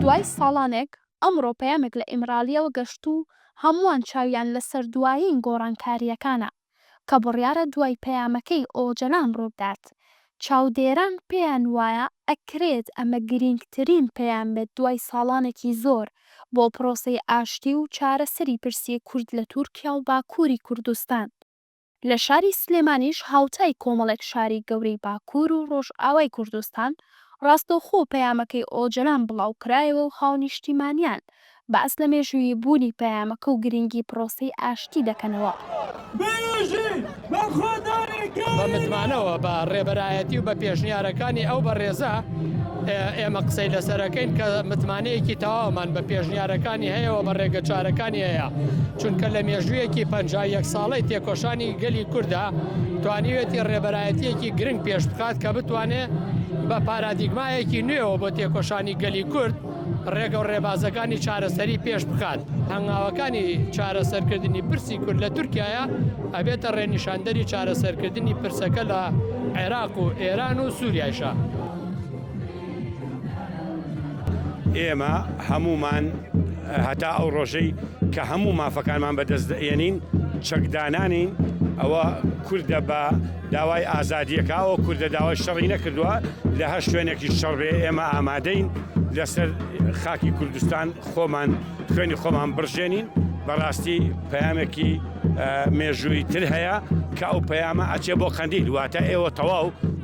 دوای ساڵانێک، ئەمڕۆ پەیامێک لە ئیمرالییەوە گەشت و هەمووان چاویان لەسەر دوایین گۆڕانکارییەکانە، کە بڕیارە دوای پەیامەکەی ئۆجەلان ڕووبدات. چاودێران پێیان وایە ئەکرێت ئەمە گرینگترین پەیام بێت دوای ساڵانێکی زۆر بۆ پرۆسەی ئاشتی و چارەسەری پرسی کورد لە تورکیا و باکووری کوردستان. لە شاری سلێمانیش هاوتای کۆمەڵێک شاری گەورەی باکوور و ڕۆژئاوای کوردستان ڕاستەوخۆ پەیامەکەی ئۆجەلان بڵاوکرایەوە و هاونیشتیمانیان باس لە مێژوویی بوونی پەیامەکە و گرنگی پرۆسەی ئاشتی دەکەنەوە. بە متمانەوە بە ڕێبەرایەتی و بە پێشنیارەکانی ئەو بەڕێزە، ئێمە قسەی لەسەرەکەین کە متمانەیەکی تەواومان بە پێشنیارەکانی هەیە و بە ڕێگەچارەکانی هەیە چونکە لە مێژوویەکی پ یەک ساڵی تێکۆشانی گەلی کووردا توانیوێتی ڕێبەرایەتیەکی گرنگ پێش بخات کە بتوانێت بە پارادیگمایەکی نوێەوە بۆ تێکۆشانی گەلی کورد ڕێگە و ڕێبازەکانی چارەسەری پێش بخات هەنگاوەکانی چارەسەرکردنی پرسی کورد لە تورکایە ئەبێتە ڕێنیشاندەری چارەسەرکردنی پرسەکە لە عێراق و ئێران و سووریایشە. ئێمە هەمومان هەتا ئەو ڕۆژەی کە هەموو مافەکانمان بەدەست دەێنین چەکدانانین ئەوە کوردە بە داوای ئازادیەکەەوە کوردە داوای شەڕی نەکردووە لە هە شوێنێکی شەڕێ ئێمە ئامادەین لەسەر خاکی کوردستان خۆمان خوێنی خۆمان بڕژێنین بەڕاستی پەیامێکی مێژووی تر هەیە کە ئەو پەیامە ئەچێ بۆ قەندیل واتە ئێوە تەواو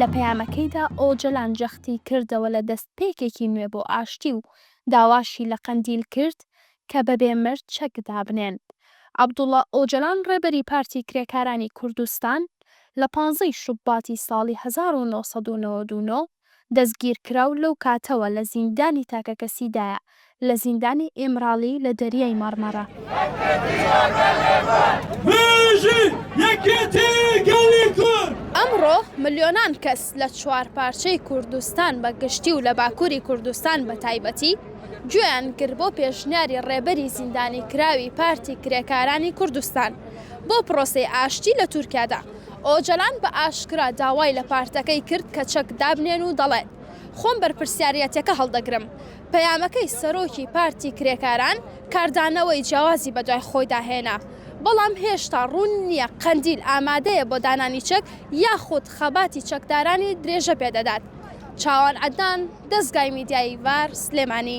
لە پەیامەکەیدا ئۆجەلان جەختی کردەوە لە دەستپێکێکی نوێ بۆ ئاشتی و داواشی لە قەندیل کرد کە بەبێ مەرج چەک دابنێن. عەبدوڵا ئۆجەلان ڕێبەری پارتی کرێکارانی کوردستان لە پانزەی شوباتی ساڵی هەزار و نۆ سەد و نەوەد و نۆ، دەستگیرکراو لەو کاتەوە لە زیندانی تاکەکەسیدایە لە زیندانی ئیمراڵی لە دەریای مەڕمەڕە. ئەمڕۆ ملیۆنان کەس لە چوار پارچەی کوردستان بە گشتی و لە باکووری کوردستان بە تایبەتی گوێیان گرت بۆ پێشنیاری ڕێبەری زیندانیکراوی پارتی کرێکارانی کوردستان بۆ پرۆسەی ئاشتی لە تورکیادا. ئۆجەلان بە ئاشکرا داوای لە پارتەکەی کرد کە چەک دابنێن و دەڵێت، خۆم بەرپرسیاریەتەکە هەڵدەگرم. پەیامەکەی سەرۆکی پارتی کرێکاران کاردانەوەی جیاوازی بەدوای خۆیدا هێنا، بەڵام هێشتا ڕوون نییە قەندیل ئامادەیە بۆ دانانی چەک یاخود خەباتی چەکدارانی درێژە پێدەدات. چاوان عەدنان، دەزگای میدیایی ڤار، سلێمانی.